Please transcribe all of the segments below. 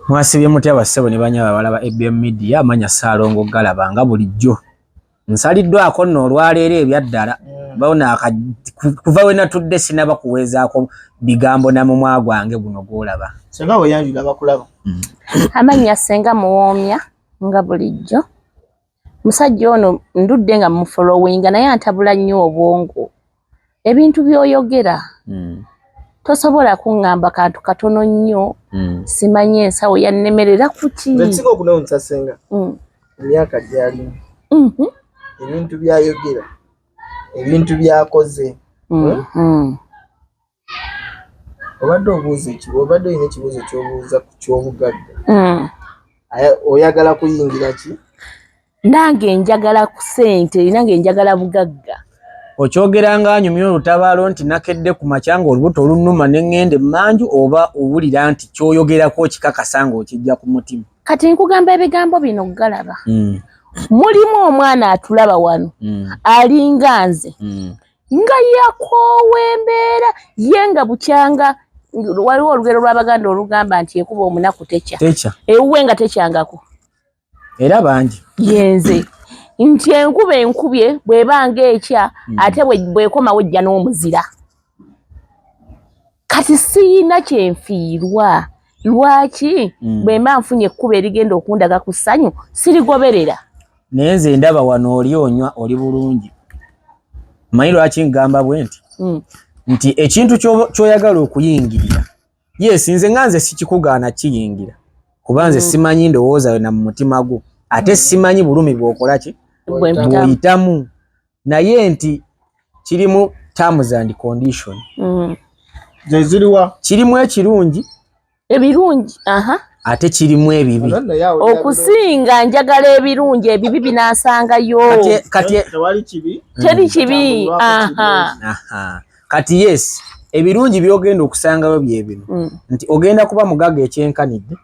Mwasibye mutya bassebo ne banyaba abawala ba ABM Media manya Ssaalongo Galaba nga bulijjo nsaliddwako nno olwaleero ebyaddala bona kuva we natudde sinaba kuweezaako bigambo na mumwa gwange guno gw'olaba senga weyanjula bakulaba mm. amannya senga muwoomya nga bulijjo Musajja ono ndudde nga mufolowinga naye antabula nnyo obwongo. Ebintu byoyogera mm. tosobola kuŋŋamba kantu katono nnyo mm. simanyi ensawo yannemerera kuki ekisinga okunewunyisa senga mm. emyaka gyalimu mm -hmm. ebintu byayogera ebintu byakoze mm. mm. obadde obuuza ekibu obadde olina ekibuuzo kyobuuza ku kyobugagga hmm. oyagala kuyingira ki nange njagala ku sente nange njagala bugagga okyogera nga anyumya olutabaalo nti nakedde ku makyanga olubuto olunuma neŋŋenda emmanju oba owulira nti kyoyogerako okikakasa nga okijja ku mutima kati nkugamba ebigambo bino galaba hmm. mulimu omwana atulaba wano hmm. alinga nze nga yakoowa embeera ye nga bukyanga waliwo olugero lw'abaganda olugamba nti ekuba omunaku tekya ewuwe nga tekyangako era bangi yenze nti enkuba enkubye bw'ebanga ekya hmm. ate bwekomawo ejja n'omuzira kati siyina kyenfiirwa lwaki mm. bwemba nfunye ekkuba erigenda okundaga ku ssanyu sirigoberera naye nze ndaba wano oli onywa oli bulungi manyi lwaki ngamba bwe nti mm. nti ekintu kyoyagala okuyingirira yes nze nga nze sikikugaana kiyingira kuba nze mm. simanyi ndowooza yona mu mutima gwo ate simanyi bulumi bwokolaki bwoyitamu naye nti kirimu terms and condition mm. zeziriwa kirimu ekirungi ebirungi aha ate kirimu ebibi okusinga njagala ebirungi ebibi binasangayo kati teri kibi aha kati yes ebirungi byogenda okusangayo byebino mm. nti ogenda kuba mugaga ekyenkanidde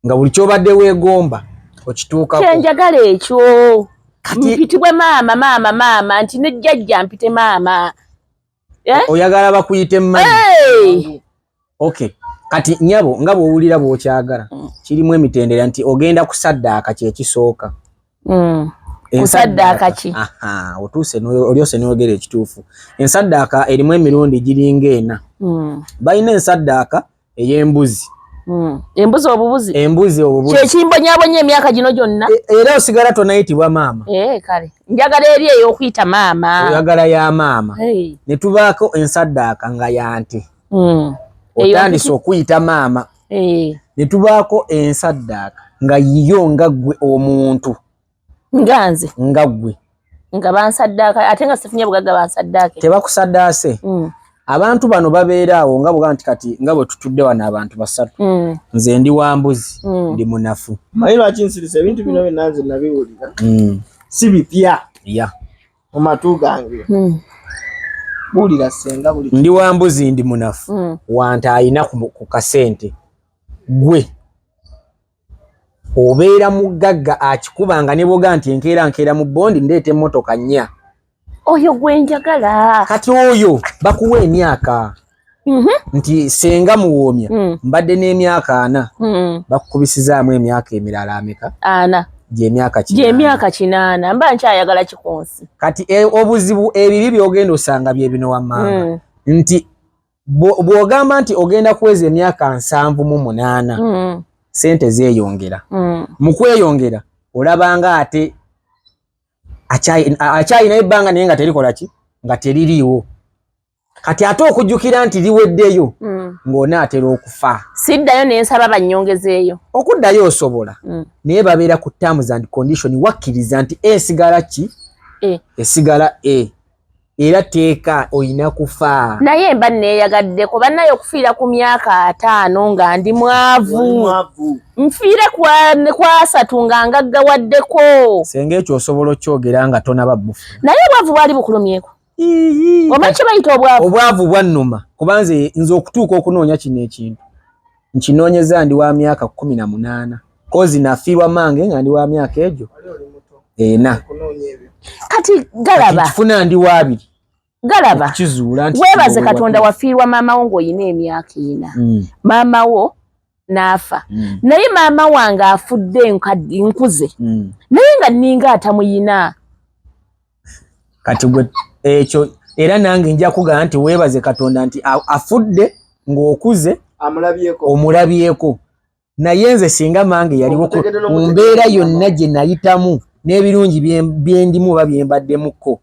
nga buli kyobadde wegomba okituukako kyenjagala ekyo mpitibwe maama maama maama nti ne jjajja mpite maama eh? oyagala bakuyite mmanyi okay kati nyabo nga bwowulira bwokyagala mm. kirimu emitendera nti ogenda kusaddaaka kyekisooka mm. kusaddaaka ki otuuse olyose noyogera ekituufu ensaddaaka erimu emirundi giringa ena mm. balina ensaddaaka ey'embuzi mm. embuzi obubuzi embuzi obubuzi kyekimbonyabonya emyaka gino gyonna e, era osigala tonayitibwa maama eh, kale njagala eri ey'okuyita maama oyagala ya maama ne tubaako ensaddaaka nga yante Hmm. otandise okuyita maama eh. ne tubaako ensaddaaka nga yiyo nga ggwe omuntu nga nze nga ggwe nga bansaddaaka ate nga sifunye bugagga bansaddaake tebakusaddaase hmm. abantu bano babeera awo nga bwga nti kati nga bwe tutudde wano abantu basatu hmm. nze ndi wa mbuzi ndi munafu maye lwaki nsirisa ebintu bino byonna nze nabiwulira si bipya ya mu matu gange hmm. buulira senga buli ndi wa mbuzi ndi munafu hmm. wanta alina ku kasente gwe obeera mugagga akikubanga ne boga nti enkeera nkeera mu bondi ndeeta emmotoka nnya oyo gwe njagala kati oyo bakuwa emyaka Mhm. nti senga muwoomya mm. mbadde n'emyaka ana mm. bakukubisizaamu emyaka emirala ameka ana gyemyaka gyemyaka kinaana mba nkyayagala kikunsi kati e, obuzibu ebibi byogenda osanga byebino wammanga mm. nti bwogamba nti ogenda kuweza emyaka nsanvu mu munaana mm. sente zeyongera mm. mu kweyongera olabanga ate akyayina ebbanga naye nga terikola ki nga teririiwo kati ate okujjukira nti liweddeyo mm. ng'onaatera okufa siddayo nensaba bannyongezeeyo okuddayo osobola mm. naye babeera ku terms and condition wakkiriza nti esigala ki e. esigala e era teeka olina kufa naye mba neeyagadde ku bannaye okufiira ku myaka ataano nga ndi mwavu nfiire kwasatu nga ngaggawaddeko senga ekyo osobola okyogera nga tonaba bufu naye obwavu bwali bukulumyeko omanyi kyebayita obwavu obwavu bwannuma kuba nze nze okutuuka okunoonya kino ekintu nkinoonyeza ndi wa myaka kkumi na munaana kozi nafiirwa mange nga ndi wa myaka egyo ena kati galaba kifuna ndi waabiri galaba kizuula nti weebaze katonda wafiirwa maama wo ng'olina emyaka ena mm. maama wo naafa mm. naye maama wange afudde nkaddi nkuze mm. naye nga ninga atamuyina kati gwe ekyo era nange nja kugamba nti weebaze katonda nti afudde ng'okuze omulabyeko naye nze singa mange yaliwo mu mbeera yonna gye nayitamu n'ebirungi byendimu oba byembaddemukko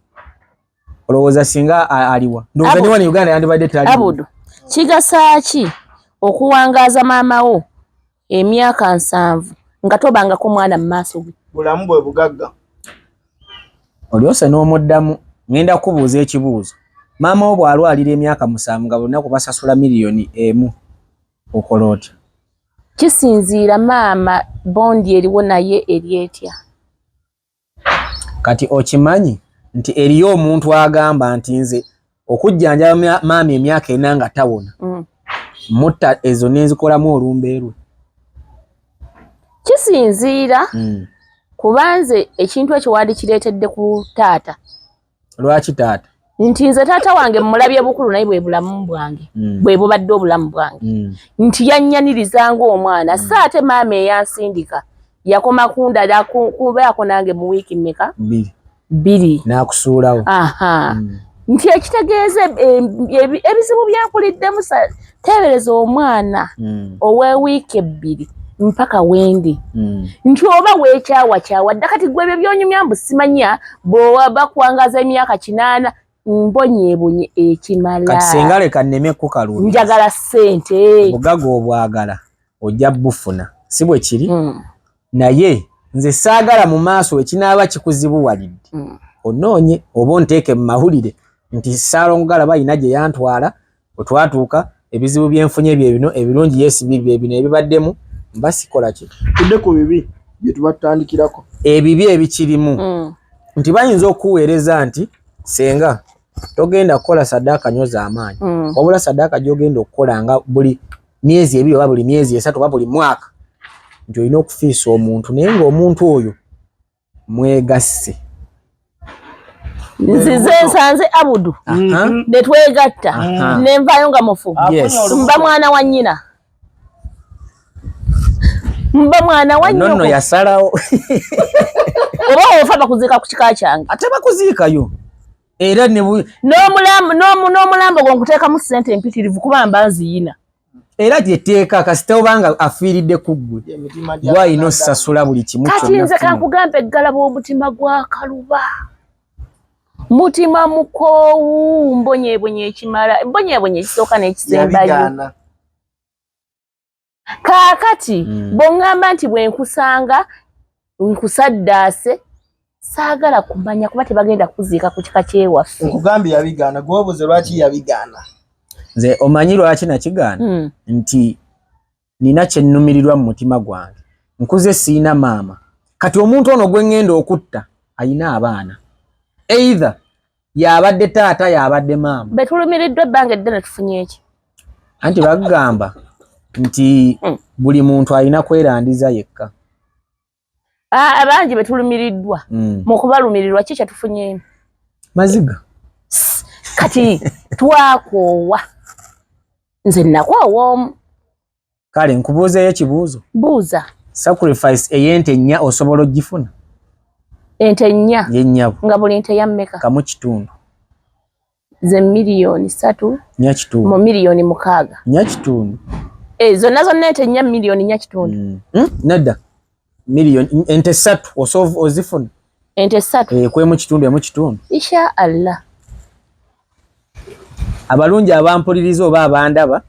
olowooza singa aliwa ndowooza ne wano uganda yandibadde tali abudu kigasaaki okuwangaaza maama wo emyaka nsanvu nga tobangako mwana mu maaso ge bulamu bwe bugagga olyose n'omuddamu ŋenda kukubuuza ekibuuzo maama wo bw'alwalira emyaka musanvu nga bonna kubasasula miliyoni emu okola otya kisinziira maama bondi eriwo naye eri etya kati okimanyi nti eriyo omuntu agamba nti nze okujjanjaba maama emyaka ena nga tawona mm. mutta ezo nenzikolamu olumba erwe kisinziira mm. kubanze ekintu ekyo wandikireetedde ku taata lwaki taata nti nze taata wange mmulabye bukulu naye bwe bulamu bwange mm. bwe bubadde obulamu bwange mm. nti yannyaniriza ng'omwana mm. so ate maama eyansindika yakoma kundala kubeako nange mu wiiki mmeka bbiri n'akusuulawo nti ekitegeeza ebizibu byenkuliddemu teebereza omwana mm. owewiiki ebbiri mpaka wendi mm. nti oba weekyawa kyawa dda kati gwe ebyo byonyumya mbu simanya bwewaba kuwangaza emyaka kinaana mbonyebonye ekimala kati singa leka nneme kukalu njagala ssente obugaga obwagala ojja bufuna si bwe kiri mm. naye nze saagala mu maaso ekinaaba kikuzibuwalidde mm. onoonye oba onteeke mu mawulire nti saalongogalaba yina gye yantwala Otwatuuka ebizibu byenfunye bye bino ebirungi yes bibi bye bino ebibaddemu mba sikola ki tudde ku bibi bye tuba tutandikirako ebibi ebikirimu mm. nti bayinza okuweereza nti senga togenda kukola saddaaka nyo z'amaanyi mm. wabula saddaaka gy'ogenda okukola nga buli myezi ebiri oba buli myezi esatu oba buli mwaka nti olina okufiisa omuntu naye ng'omuntu oyo mwegasse nzize nsanze abudu ne twegatta ne nvaayo nga mufu mba mwana wa nnyina mba mwana wa nnyoko yasalawo oba ofa bakuziika ku kika kyange ate bakuziikayo era n'omulambo gwe nkuteekamu ssente empitirivu kuba mba nziyina era gyetteeka kasita obanga afiiridde ku ggwe gwalina osasula buli kimu kati nze kankugamba eggala bw'omutima gwa kaluba mutima mukoowu mbonyebonye ekimala mbonyebonye ekisooka n'ekisembayo kaakati hmm. bw'oŋŋamba nti bwe nkusanga nkusaddaase saagala kumanya kuba tebagenda kuziika ku kika kyewaffe nkugambye yabigaana gwobuze lwaki yabigaana nze omanyi lwaki nakigaana hmm. nti nina kyennumirirwa mu mutima gwange nkuze siina maama kati omuntu ono gwe ŋŋenda okutta ayina abaana either yabadde taata yabadde maama betulumiriddwa ebbanga eddene tufunye eki anti bagamba nti hmm. buli muntu alina kwerandiza yekka abangi betulumiriddwa hmm. mu kubalumirirwa ki kyetufunyemu maziga kati twakoowa nze nakoowa omu kale nkubuuzeyo ekibuuzo buuza sacrifice eyente nnya osobola ogifuna ente nnya yenyabo nga buli nte yammeka kamu kitundu ze miliyoni satu nya kitundu mu miliyoni mukaaga nya kitundu e, eh, zonna zonna ente nnya miliyoni nya kitundu mm. hmm? nedda miliyoni ente satu osovu ozifuna ente satu e, eh, kwemu kitundu emu kitundu insha allah abalungi abampuliriza oba abandaba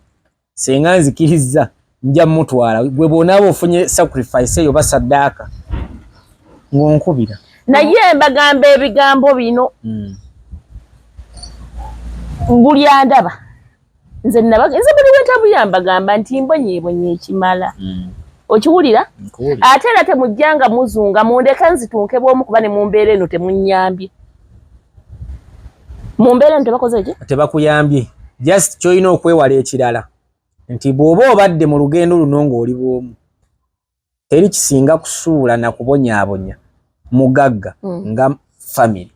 Senga nzikirizza nja mutwala gwe bwonaaba ofunye sacrifice eyo basaddaaka ng'onkubira naye mbagamba ebigambo bino hmm. buli andaba nze nze buli wentambulira mbagamba nti mbonyebonye ekimala hmm. okiwulira ate era temujjanga muzunga mundeke nzitunke bwomu kuba ne mumbeera eno temunyambye mu mbeera eno tebakoze ki tebakuyambye just kyolina okwewala ekirala nti bw'oba obadde mu lugendo luno ng'oli bw'omu teri kisinga kusuula na kubonyaabonya mugagga mm. nga famiry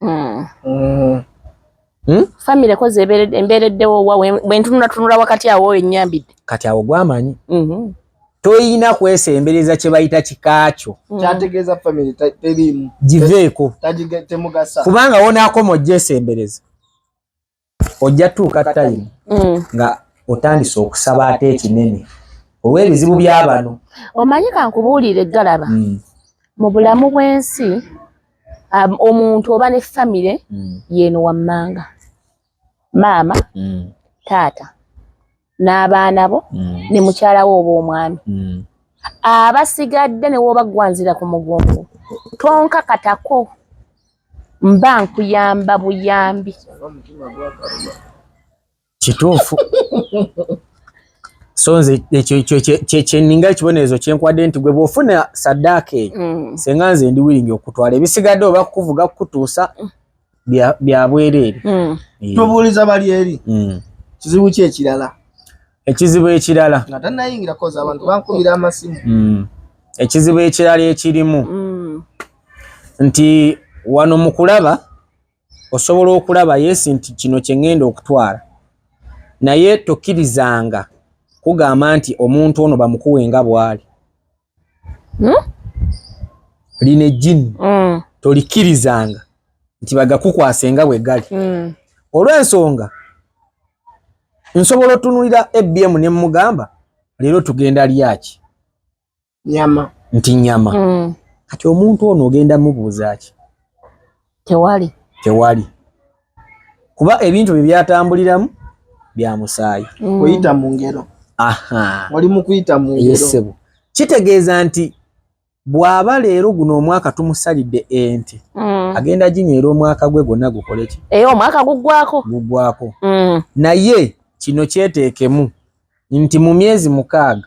mm. mm. Hmm? family koze embeereddewo wa bwentununatunula wakati awo enyambidde kati awo gwamanyi mm-hmm. toyina kwesembereza kyebayita kikaakyo mm. kyategeeza famiry teriimu giveeko temugasa kubanga wonaakoma ojja esembereza ojja tuuka tayimu mm. nga otandise okusaba ate ekinene olw'ebizibu byabano omanyi kankubuulire galaba mm. mu bulamu bw'ensi um, omuntu oba ne famire mm. yeeno wammanga maama mm. taata n'abaana bo mm. ne mukyala wo oba omwami mm. abasigadde ne woobagwanzira ku mugongo tonkakatako mba nkuyamba buyambi kituufu so nze kyeninga ekibonerezo kyenkwadde nti gwe bwofuna saddaaka eyo mm. senga nze ndi wiringi okutwala ebisigadde oba kukuvuga kukutuusa mm. bya bwereere hmm. eh. tubuuliza bali eri hmm. kizibu ki ekirala ekizibu ekirala nga tannayingira koza abantu bankubira amasimu hmm. ekizibu ekirala ekirimu nti wano mu kulaba osobola okulaba yesi nti kino kye ŋŋenda okutwala naye tokkirizanga kugamba nti omuntu ono bamukuwe nga bw'ali hmm? lino ejjini mm. tolikkirizanga nti bagakukwase nga bwe gali mm. olw'ensonga nsobola otunulira abm ne mugamba leero tugenda lyaki nyama nti nyama mm. kati omuntu ono ogenda mubuuza ki tewali tewali kuba ebintu bye byatambuliramu bya musaayi mm. kuyita mu ngero oli mu kuyita mu ngeroyesebo kitegeeza nti bw'aba leero guno omwaka tumusalidde ente mm. agenda ginywera omwaka gwe gwonna gukole ki e omwaka guggwako guggwako mm. naye kino kyeteekemu nti mu myezi mukaaga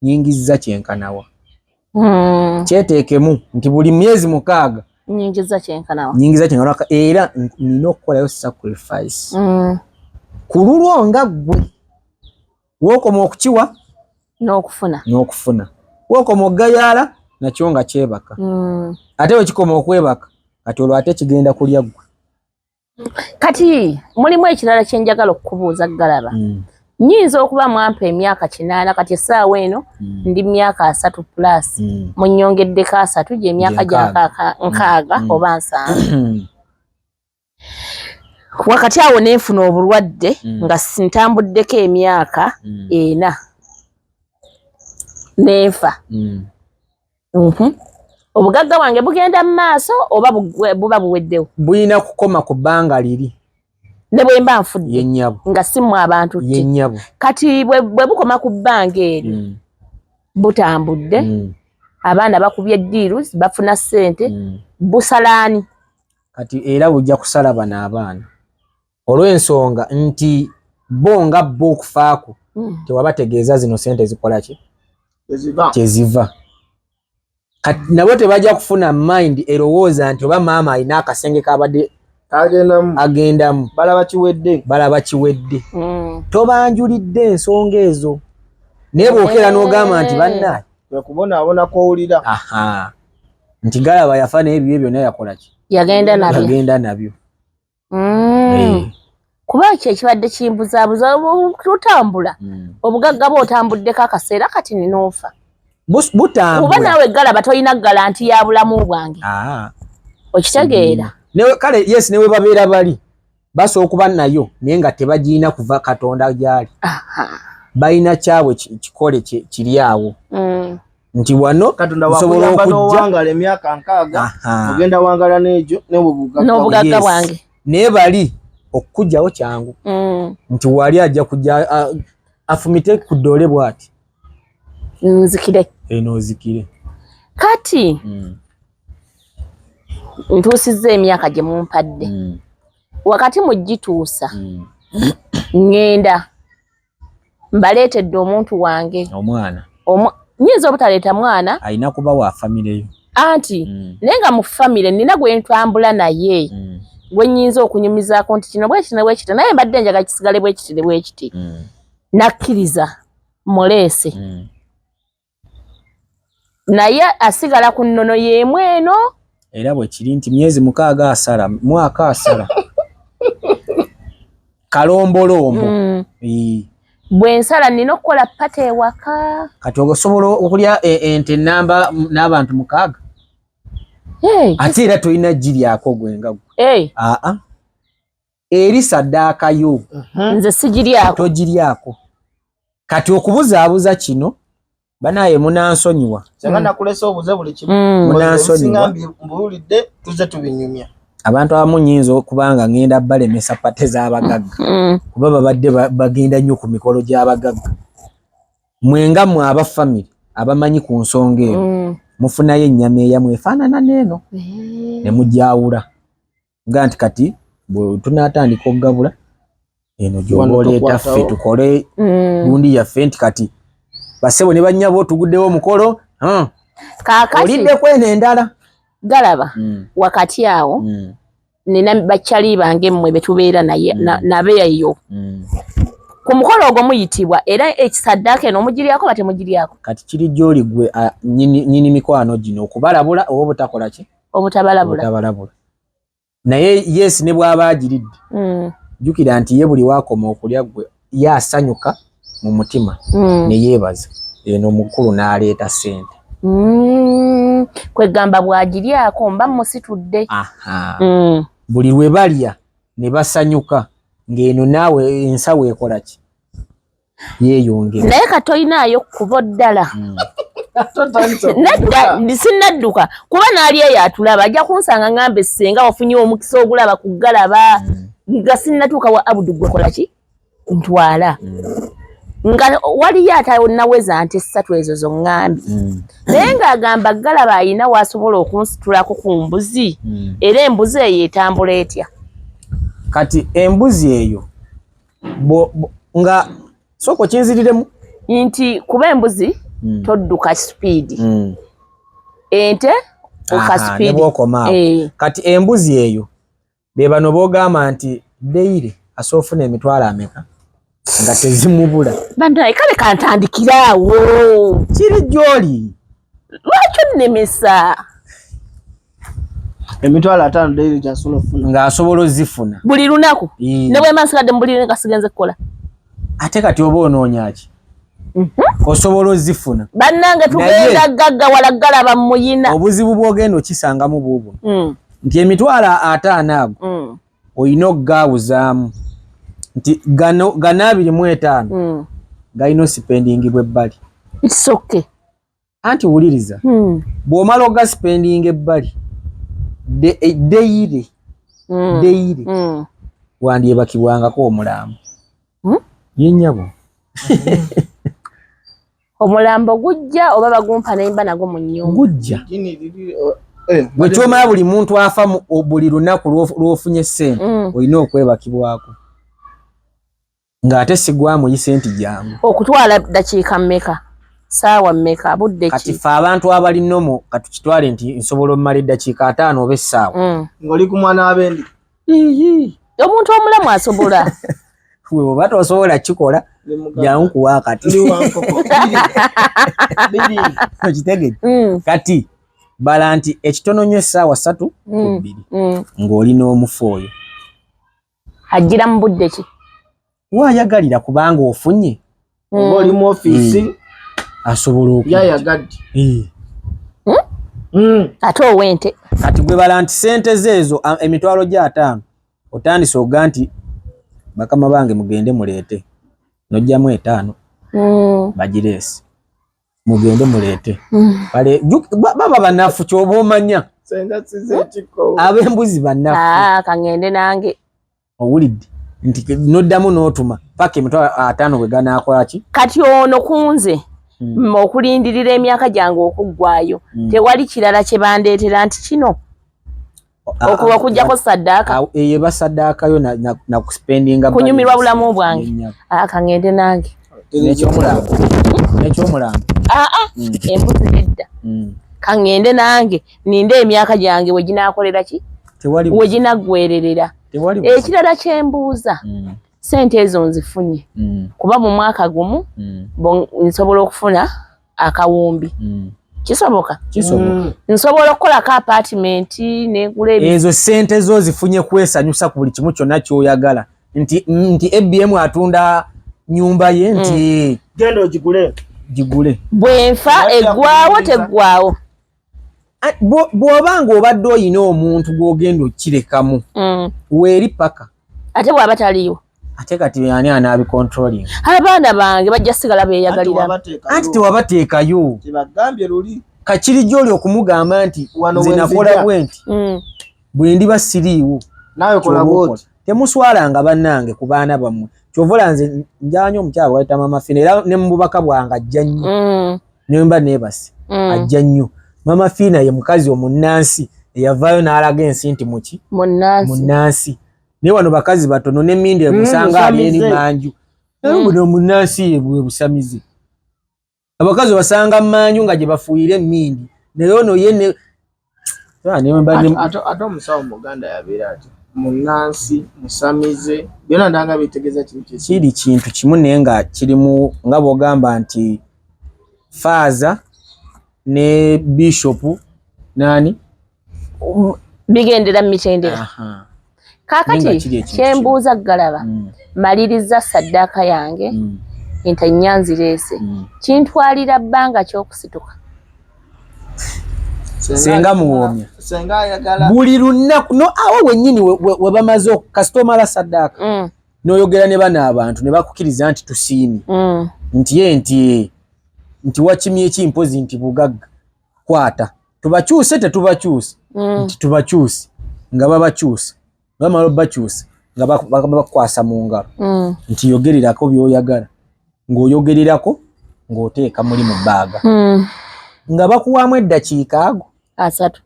nyingizza kyenkana wa hmm. kyeteekemu nti buli myezi mukaaga nyingiza kyenkana wa nyingiza kyenkana wa era nina okukolayo sacrifice hmm. ku lulwo nga ggwe wookoma okukiwa n'okufuna n'okufuna wookoma okugayaala nakyo nga kyebaka hmm. ate wekikoma okwebaka kati olwo ate kigenda kulya ggwe kati mulimu ekirala kye njagala okukubuuza galaba mm. nyinza okuba mwampa emyaka kinaana kati essaawa eno mm. ndi myaka asatu plus mm. munyongeddeko asatu gyemyaka gyankaka nkaaga mm. oba nsanvu wakati awo nenfuna obulwadde mm. nga ntambuddeko emyaka mm. ena nenfa mm. Mhm. Obugagga wange bugenda mu maaso oba buba buweddewo? Bulina kukoma ku bbanga liri. Ne bwe mba nfudde? Ye nnyabo. Nga si mmwe abantu ki? Ye nnyabo. Kati bwe bukoma ku bbanga eri mm. butambudde, mm. abaana bakubye deals, bafuna ssente, mm. busalaani? Kati era bujja kusala bano abaana. olw'ensonga nti bo nga bo okufaako hmm. tewabategeeza zino sente zikola ki kyeziva kati nabo tebajja kufuna mind erowooza nti oba maama alina akasenge kabadde agendamu balaba kiwedde balaba kiwedde hmm. tobanjulidde ensonga ezo naye bwokera n'ogamba nti eh. bannaye wekubonaabona kwowulira nti galaba yafa naye ebibye byonna yakola ki yagenda nabyo mm. eh. kuba ekyo ekibadde kimbuzabuza tutambula mm. obugagga bwe otambuddeko akaseera kati ninoofa butambula kuba naawe galaba tolina galanti ya bulamu bwange ah. okitegeera mm. kale yes newe babeera bali basobola okuba nayo naye nga tebagirina kuva katonda gyali balina kyabwe kikole kiri awo mm. nti wano nsobola okujjawangala emyaka nkaaga ogenda wangala n'egyo n'obugagga bwange naye bali okukugyawo kyangu mm. nti wali ajja kujja afumite ku ddoole bw'ati nzikire eno eh, ozikire kati mm. ntuusizza emyaka gye mumpadde mm. wakati mu gituusa ngenda mbaleetedde omuntu wange omwana nyinza obutaleeta mwana alina kuba wa famire yo anti mm. naye nga mu famire nina gwe ntambula naye mm. gwe nyinza okunyumizaako nti kino bwekiti ne bwekiti naye mbadde njaga kisigale bwekiti ne bwekiti mm. nakkiriza muleese mm. naye asigala ku nnono y'emu eno era bwe kiri nti myezi mukaaga asala mwaka asala kalombolombo mm. bwe nsala nnina okukola pata ewaka kati osobola okulya e, ente namba n'abantu mukaaga ate era tolina giryako gwe nga gwe aa eri saddaaka yo mhm. nze sigiryako togiryako kati okubuzaabuza kino banaye munansonyiwa mm. munansonyiwambulidde tuze tubinyumya abantu abamu nyinza okubanga ngenda balemesa pate zabagagga mm. kuba babadde bagenda nnyo ku mikolo gyabagagga mwenga mwe aba famiry abamanyi ku nsonga eno mm. mufunayo ennyama eyamwe efaanana neeno eh. ne mujawula nga nti kati bwetunatandika okugabula eno gyoba oleeta ffe tukole mm. gundi yaffe nti kati basebo ne banyabo tuguddewo omukolo olidde kweno endala galaba mm. wakati awo mm. nina bakyali bange mmwe betubeera naye nabeeyo ku mukolo ogwo muyitibwa era ekisaddaaka eno omugiryako batemugiryako kati kiri gyoli gwe nyini mikwano gino okubalabula oba obutakola ki obutabalabula obutabalabula naye yes ne bwaba agiridde mm. jukira nti ye buli wakoma okulya gwe ye asanyuka mu mutima mm. ne yeebaza eno mukulu n'aleeta sente mm. kwegamba bwagiryako mba musitudde mm. buli lwe balya ne basanyuka ng'eno naawe ensawo ekolaki yeyongere naye katoyinaayo kubo ddala hmm. nedda sinnadduka kuba naali eyo atulaba ajja kunsanga ngambe senga wafunye omukisa ogulaba kugalaba hmm. nga sinnatuuka wa abudu gwekolaki ntwala hmm. nga waliyo atanaweza nti essatu ezo zoŋŋambye mm. naye ng'agamba galaba alina waasobola okunsitulako ku mbuzi mm. era embuzi eyo etambula etya kati embuzi eyo nga soko kinziriremu nti kuba embuzi mm. todduka sipiidi mm. ente oka sipiidi eh. kati embuzi eyo be bano bogamba nti deyire asoofuna emitwalo ameka nga tezimubula banaye kale kantandikiraawo kiri gyoli lwaki onnemesa emitwalo ataano daily gyasobola okufuna nga asobola ozifuna buli lunaku ne bwemba nsigadde mu buliri nga sigenze kukola ate kati oba onoonya ki mhm. osobola ozifuna bannange tugenda gaggawala galaba muyina obuzibu bwogenda okisangamu buubu mm. nti emitwalo ataano ago mm. olina okugaawuzaamu nti gano gano abiri mu etaano mm. galina osipendingibwa ebbali isoke anti wuliriza hmm. bw'omala oga spending ebbali eh, deyire hmm. deyire hmm. wandyebakibwangako omulambo yenyabo omulambo gujja oba bagumpa nayimba nago mu nyumba gujja eh, bwekyomala buli muntu afa buli lunaku lwofunye sente olina okwebakibwako nga ate sigwa muyise nti jangu okutwala dakiika mmeka saawa mmeka budde ki kati fe abantu abali nomo katukitwale nti nsobola omumala eddakiika ataano oba essaawa mm. ngoli ku mwana abendi omuntu omulamu asobola oba tosobola kikola jangu kuwa kati okitegere mm. kati bala nti ekitono nyo essaawa satu mm. ku bbiri ng'oli n'omufu oyo ajjira mu budde ki waayagalira kubanga ofunye hmm. oba oli mu ofiisi hmm. asobola okuyayagadde hmm? ate owente kati gwe bala nti sente zeezo emitwalo gya ataano otandise oga nti bakama bange mugende muleete nojjamu etaano bagireesi mugende muleete baba banafu kyoba omanya abembuzi banafukangende ah, nange owulidde nti noddamu n'otuma paka emitwa ataano bwe ganakolaki kati ono kunze hmm. okulindirira emyaka gyange okuggwayo hmm. tewali kirala kye bandeetera nti kino okuba okujjako saddaaka eye basaddaaka yo nakuspendinga kunyumirwa bulamu bwange akangende nange nekyomulambo nekyomulambo aa mm. embuzi nedda mm. kangende nange ninde emyaka gyange weginakolera ki weginaggwererera ekirala kyembuuza mm. sente ezo nzifunye kuba mu mwaka gumu nsobola okufuna akawumbi mm. kisoboka kisoboka mm. nsobola okukolako apartment negula ezo sente zo zifunye kwesanyusa ku buli kimu kyonna kyoyagala nti nti abm atunda nyumba ye nti mm. genda ogigule gigule bwenfa eggwawo teggwawo bwoba nga obadde oyina omuntu gwogenda okukirekamu mm. weeri paka ate bwaba taliiwo ate kati ani anaabicontrolling abaana bange bajja sigala beyagalira anti tewabateekayo tebagambye luli kakiri gyoli okumugamba nti nze nakola bwenti mm. bwendiba siriiwo nawe kola bwoti temuswalanga banange ku baana bammwe kyovola nze njawanyo omukyala waita mama fina era ne mububaka bwange ajja nnyo mm. nemba nebasi mm. ajja nnyo mama fina ye mukazi omunnansi eyavaayo n'alaga ensi nti muki munnansi naye wano bakazi batono nemindi emusanga mm, ali eri manju naye mm. buno omunnansi ye bwe busamize abakazi basanga manju nga jebafuuyira emmindi naye ono ye ne ate omusawo muganda yabeera ati munansi musamize byona ndanga bitegeeza kiri kintu kimu naye nga kirimu nga bwogamba nti faaza ne bishopu nani bigendera mu mitendera kaakati kyembuuza galaba mm. malirizza saddaaka yange mm. ente nnya nzireese mm. kintwalira bbanga ky'okusituka senga muwoomya buli lunaku no awo wennyini webamaze kasita omala saddaaka noyogera ne bano abantu ne bakukiriza nti tusiimi nti ye nti nti wakimyeki mpozi nti bugagga kwata tubakyuse tetubakyuse mm. nti tubakyuse nga babakyuse bamala bakyuse nga bakwasa mu ngalo mm. nti yogererako byoyagala ng'oyogererako ng'oteeka muli mu bbaaga mm. nga bakuwaamu eddakiika ago asatu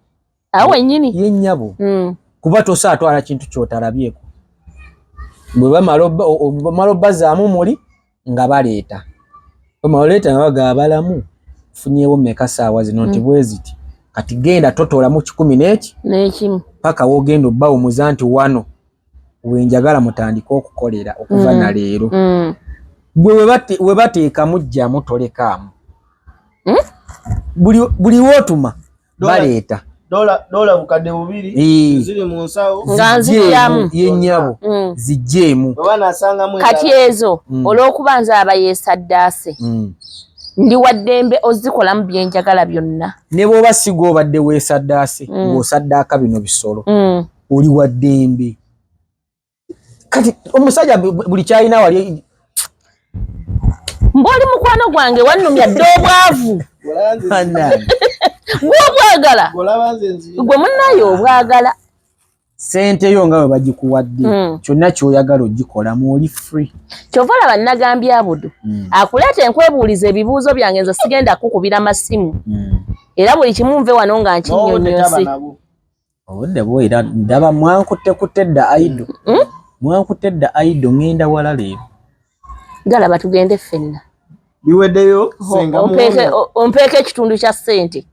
awo wenyini ye nyabo mm. kuba tosa atwala kintu kyotalabyeko bwe bamala bamala bazaamu muli nga baleeta bamala leeta nga baga abalamu funyewo meka saawa zino nti mm. bweziti kati genda totola mu kikumi neki nekimu paka wogenda obba omuza nti wano wenjagala mutandika okukolera okuva mm. na leero mm. gwe webateekamu jjamu tolekaamu mm? buli wotuma baleeta dola bukadde bubiri ziri mu nsawo nga nzijjamu yennyabo mm. zijjeemu kati ezo mm. olw'okuba nze aba yeesaddaase mm. ndi waddembe ozikolamu byenjagala byonna ne bw'oba siga obadde weesaddaase ng'osaddaaka bino bisolo oli waddembe kati omusajja buli kyalina wali mbaoli mukwano gwange wannumya dde obwavu gwobwagala gwe munaye obwagala sente yo nga bwe bagikuwadde hmm. kyonna kyoyagala ogikola mwoli free kyova laba nagambye abudu hmm. akuleeta enkwebuuliza ebibuuzo byange nze sigenda kukubira masimu hmm. era buli kimu nve wano nga nkinyonyosi obudde buwera ndaba mwankutte kutte dda aido hmm? mwankutte dda aido ngenda wala leero galaba tugende ffenna biweddeyo ompeeka ekitundu kya ssente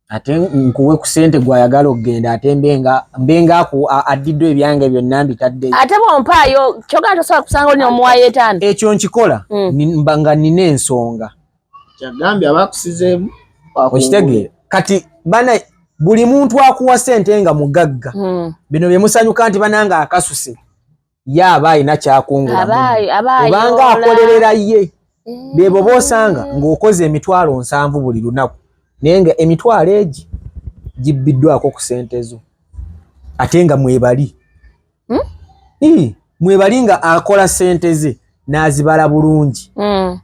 ate nkuwe ku ssente gwayagala okugenda ate mbenga mbenga aku addiddwa ebyange byonna mbitadde ate bwompaayo kyogana tosobola kusanga oli nomuwayo etaano ekyo nkikola hmm. nga nina ensonga kyagambye abakusizeemu okitegeera kati bana buli muntu akuwa sente nga mugagga hmm. bino bye musanyuka nti bananga akasuse ye aba alina kyakungulaobanga akolerera ye eh. bebo bosanga ng'okoze emitwalo nsanvu buli lunaku naye nga emitwalo egi gibbiddwako ku sente zo ate nga mwebali hmm? mwebali nga akola sente ze nazibala bulungi hmm.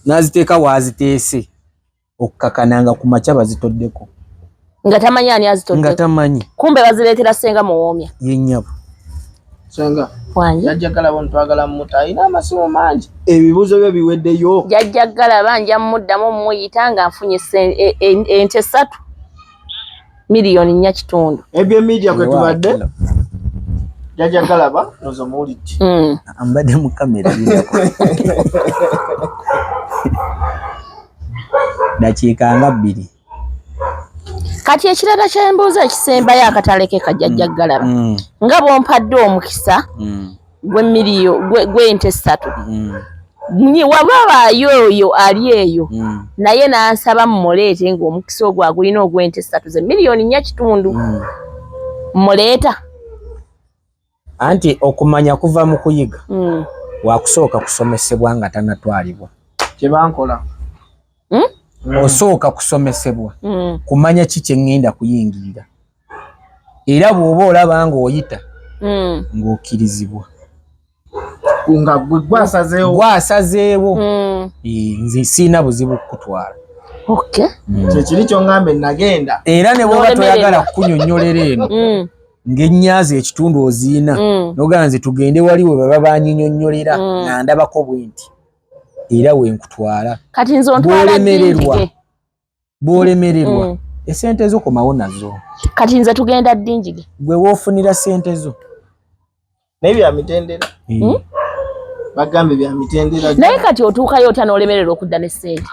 naziteeka waaziteese okukakana nga ku makya bazitoddeko nga tamanyi ani azitodde nga tamanyi kumbe bazireetera senga muwoomya yenyabo senga wange yajjagala bo ntwagala mmuta alina amasimu mangi ebibuuzo byo biweddeyo jajjagala banja mmuddamu mmuyita nga nfunye e, e, ente satu miliyoni nnya kitundu ebyo media kwe tubadde jaja galaba nozo muwulidde mm. ambadde mu kamera dakiika nga bbiri kati ekirala kyembuuza ekisembayo akatalekeka jajja mm. galaba mm. nga bwompaddwa omukisa gwe miliyo gwe ente satu mm. nyi waba bayo oyo ali eyo mm. naye nansaba mumulete ngo omukisa ogwo agulina ogwe ente satu ze milioni nya kitundu mm. muleta anti okumanya kuva mu kuyiga mm. wakusooka kusomesebwa nga tanatwalibwa kyebankola hmm? osooka kusomesebwa hmm. kumanya ki kye ŋŋenda kuyingirira era bwoba olaba nga oyita mm. ng'okkirizibwa nga gwasazeewo gwasazeewo mm. nze siina buzibu kukutwala mm. kyekiri kyoŋambe nagenda era ne bwoba toyagala kukunyonnyolera eno mm. ng'ennyazi ekitundu oziina mm. nogaa nze tugende wali we baba banyinyonnyolera mm. nga ndabako bwenti era wenkutwala kati nze ontwala bwolemererwa bwolemererwa mm. esente zo komawo nazo kati nze tugenda ddingige gwe wofunira sente zo naye bya mitendera eh. hmm? bagambe bya mitendera naye kati otuukayo otya n'olemererwa okudda ne sente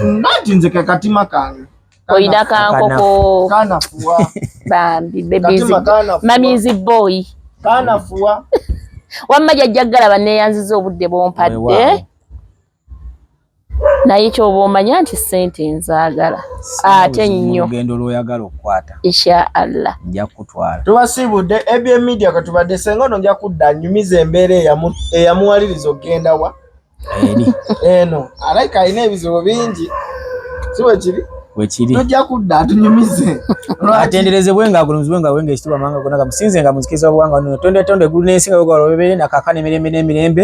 nati nze kekatima kange oyina kankoko kanafuwa bambi bebizi mamizi boyi kanafuwa wamma jajja galaba neyanziza obudde bompadde naye kyoba omanya nti sente nzagala ate nnyo olugendo lwoyagala okukwata insha allah nja kukutwala tubasiibudde abm media katubadde senga ono nja kudda nyumiza embeera eyamuwaliriza okugenda wa eri eno alaika alina ebizibu bingi si bwe kiri wekiri tujja kudda atunyumize atenderezebwe nga agulumizibwe nga wenga ekitibwa manga gona gamusinze nga muzikiriza obuwanga nono tonde tonde gulu n'ensi nga wegwala obebere nakakana emirembe n'emirembe